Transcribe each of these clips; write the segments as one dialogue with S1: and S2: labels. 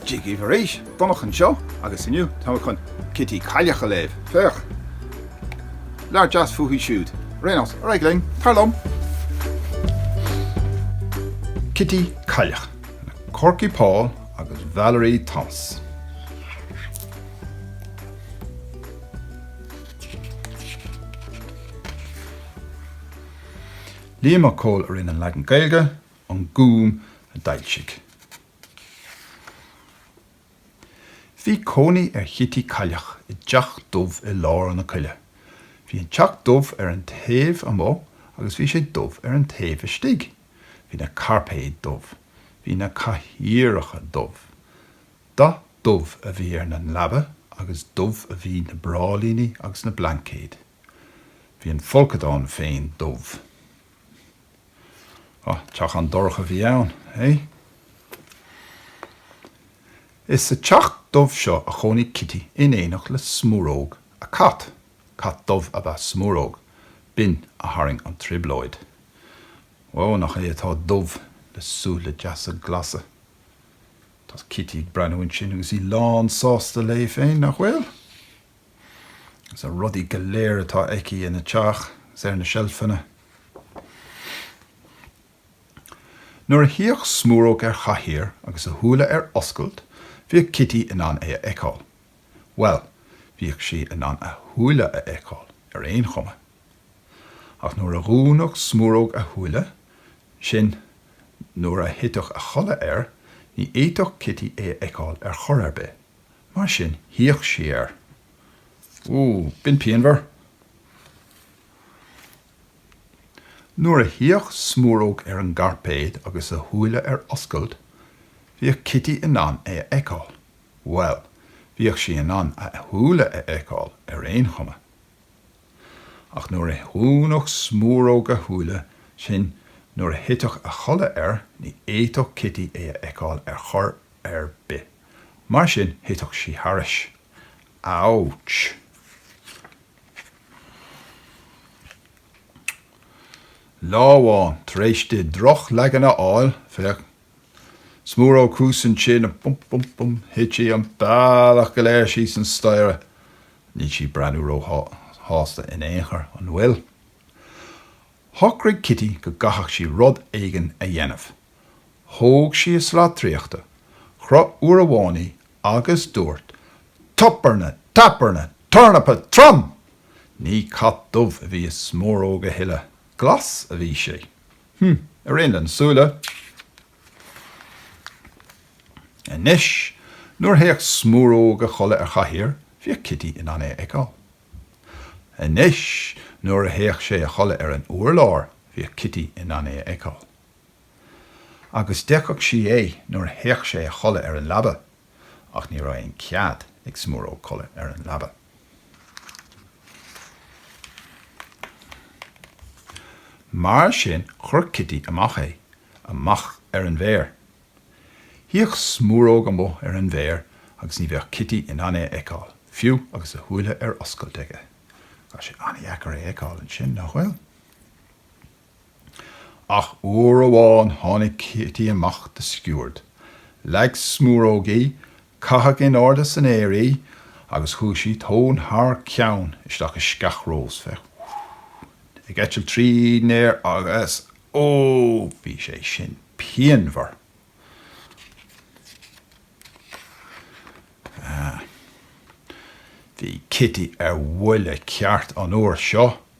S1: Dia daoibh arís Donncha anseo agus inniu táimid chun Cití Cailleach a léamh. Féach! Leabhar deas fúithi siúd. Réidh anois? Ar aghaidh linn! Tar liom! Cití Cailleach le Korky Paul agus Valerie Thomas. Liam Mac Cóil a rinne an leagan Gaeilge, An Gúm a d'fhoilsigh. Bhí cónaí ar Chití Cailleach i dteach dubh i lár na coille. Bhí an teach dubh ar an taobh amuigh agus bhí sé dubh ar an taobh istigh. Bhí na cairpéid dubh. Bhí na cathaoireacha dubh. Dath dubh a bhí ar na leaba agus dubh a bhí na bráillíní agus na blaincéid. Bhí an folcadán féin dubh. Ó, teach an-dorcha a bhí ann, eh? Is sa teach dubh seo a chónaigh Cití in éineacht le Smúróg, a cat. Cat dubh ab ea Smúróg, b'in a tharraing an trioblóid. Ó, nach é atá dubh, le súile deasa glasa. Tá Cití ag breathnú ansin agus í lánsásta léi féin, nach bhfuil? Agus na rudaí go léir atá aici ina teach agus ar na seilfeanna. Nuair a shuíodh Smúróg ar chathaoir agus a shúile ar oscailt, bhíodh Cití in ann é a fheiceáil. Bhuel, bhíodh sí in ann a shúile a fheiceáil ar aon chuma. Ach nuair a dhúnadh Smúróg a shúile, sin, nuair a thiteadh a chodladh air, ní fhéadfadh Cití é a fheiceáil ar chor ar bith. Mar sin shuíodh sí air. Ó, b'in pianmhar! Nuair a shuíodh Smúróg ar an gcairpéad agus a shúile ar oscailt, bhíodh Cití in ann é a fheiceáil. Bhuel, bhíodh sí in ann a shúile a fheiceáil ar aon chuma. Ach nuair a dhúnadh Smúróg a shúile, sin nuair a thiteadh a chodladh air, ní fhéadfadh Cití é a fheiceáil ar chor ar bith. Mar sin, thiteadh sí thairis. Ouch! Lá amháin, tar éis di drochleagan a fháil, féach, Smúróg thuas ansin a bum bum bum Thit sí an bealach go léir síos an staighre Níl sí breathnú ró shásta in aon chor, an bhfuil? Shocraigh Cití go gcaithfeadh sí rud éigin a dhéanamh. Thóg sí a slat draíochta, chroith uair amháin í agus dúirt Toperna! Taperna! Tornapa Trom! Ní cat dubh a bhí i Smúróg a thuilleadh, glas a bhí sé. Hm. Ar aon le na súile. Anois, nuair a théadh Smúróg a chodladh ar chathaoir, bhíodh Cití in ann é a fheiceáil. Anois, nuair a théadh sé a chodladh ar an urlár, bhíodh Cití in ann é a fheiceáil. Agus d'fheicfeadh sí é nuair a théadh sé a chodladh ar an leaba, ach ní raibh aon chead ag Smúróg codladh ar an leaba. Mar sin chuir Cití amach é, amach ar an bhféar. Shuíodh Smúróg amuigh ar an bhféar agus ní bheadh Cití in ann é a fheiceáil, fiú agus a shúile ar oscailt aige. Tá sé an-dheacair é a fheiceáil ansin, nach bhfuil? Ach uair amháin tháinig Cití amach de sciúird, leag Smúróg í, caitheadh in airde san aer í agus chuaigh sí tóin thar ceann isteach i sceach rós, féach, ag eitilt tríd an aer agus ó, bhí sé sin pianmhar! Bhí Cití ar bhuile ceart an uair seo.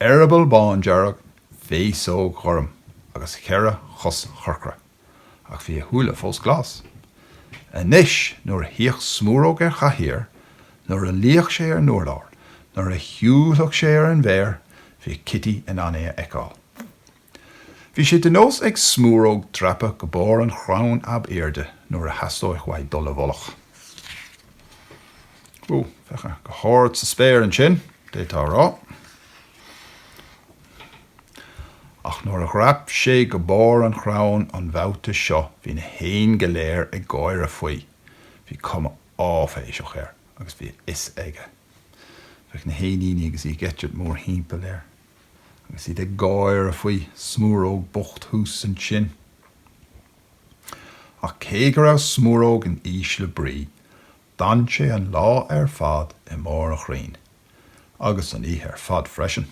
S1: eireaball bándearg, féasóg ghorm agus cheithre chos chorcra, ach bhí a shúile fós glas. Anois, nuair a shuíodh Smúróg ar chathaoir, nuair a luíodh sé ar an urlár, nuair a shiúladh sé ar an bhféar, bhíodh Cití in ann é a fheiceáil. Bhí sé de nós ag Smúróg dreapadh go barr an chrainn ab airde nuair a theastódh uaidh dul i bhfolach. Ó, féach é go hard sa spéir ansin, d'fhéadfá a rá. Ach nuair a dhreap sé go barr an chrainn an babhta seo bhí na héin go léir ag gáire faoi. Bhí cuma áiféiseach air agus bhí a fhios aige. Féach na héiníní agus iad ag eitilt mórthimpeall air. agus iad ag gáire faoi Smúróg bocht thuas ansin. Ach cé go raibh Smúróg in ísle brí, d'fhan sé an lá ar fad i mbarr an chrainn, agus an oíche ar fad freisin.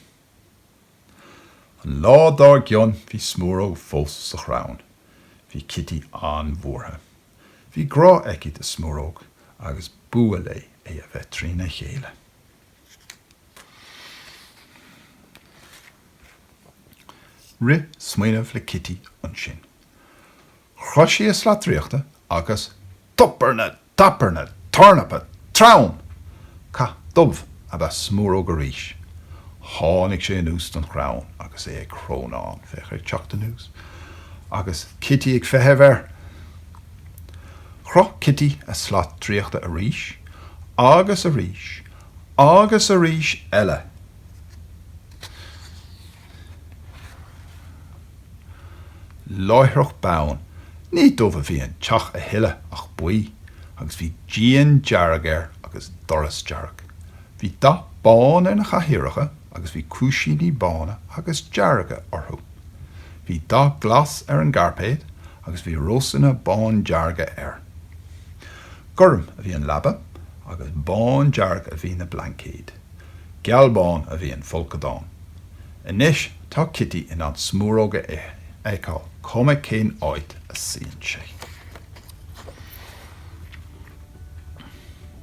S1: An lá dár gcionn, bhí Smúróg fós sa chrann. Bhí Cití an-bhuartha. Bhí grá aici do Smúróg agus b'fhuath léi é a bheith trína chéile. Rith smaoineamh le Kitty ansin. Chroith sí a slat draíochta agus tornapa tornapa tornapa trom! Cat dubh ab ea Smúróg arís. Tháinig sé anuas den chrann agus é ag crónán, féach air ag teacht anuas, agus Kitty ag feitheamh air. Chroith Cití a slat draíochta arís agus arís agus arís eile. Láithreach bonn ní dubh a bhí an teach a thuilleadh ach buí, agus bhí díon dearg air agus doras dearg. Bhí dath bán ar na cathaoireacha. agus bhí cúisíní bána agus dearga orthu. Bhí dath glas ar an gcairpéad agus bhí rósanna bándearga air. Gorm a bhí an leaba agus bándearg a bhí na blaincéid. Gealbhán a bhí an folcadán. Anois tá Cití in ann Smúróg a fheiceáil is cuma cén áit a suíonn sé.